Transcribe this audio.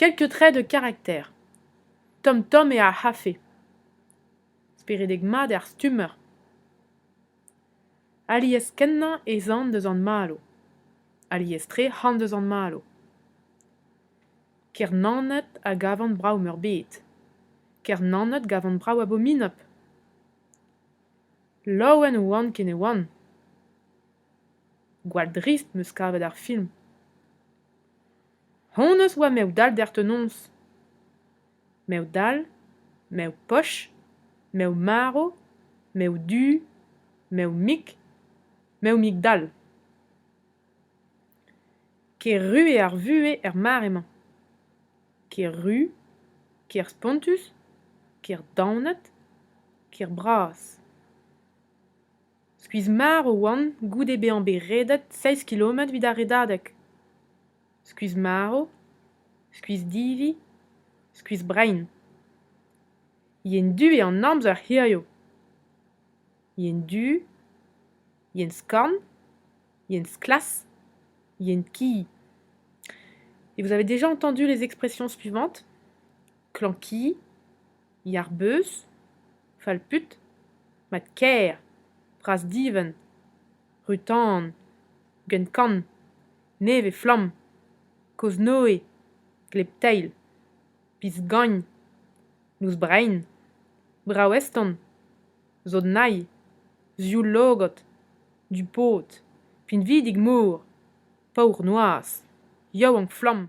Keltu trec'h eo karakter tomm-tomm eo ar c'hafe, speredek mat eo ar stummer. Alies-kenañ ez an deus an marv, alies-tre c'han deus an marv. Ker-Naoned a gavan brav-meurbet, Ker-Naoned gavan brav abominop. Laouen 'oan ken e oan. Gwall drist 'm eus kavet ar film. Honnezh oa mev-dall derc'htonoz. Mev-dall, mev-poch, mev-marv, mev-du, mev-mik, mev-mik-dall. Ker-ru eo ar vuhez er mare-mañ. Ker-ru, ker spontus, ker daonet, ker bras. Skuizh-marv oan goude bezañ bet redet seizh kilometr evit ar redadeg. Skuizh-marv, skuizh-divi, skuizh-brein. Yen du eo an amzer hiziv. Yen du, yen skorn, yen sklas, yen ki. Et vous avez déjà entendu les expressions suivantes ? Klañki, yar beuz, fall-put, mat-kaer, bras-divent, ru-tan, gant-kann, nevez-flamm, kozh-noe, gleb-teil, biz-gagn, noz-brein, brav-eston, zod-nailh, zioul-logod, du-pod, pinvidik-mor, paour-noazh, yaouank-flamm.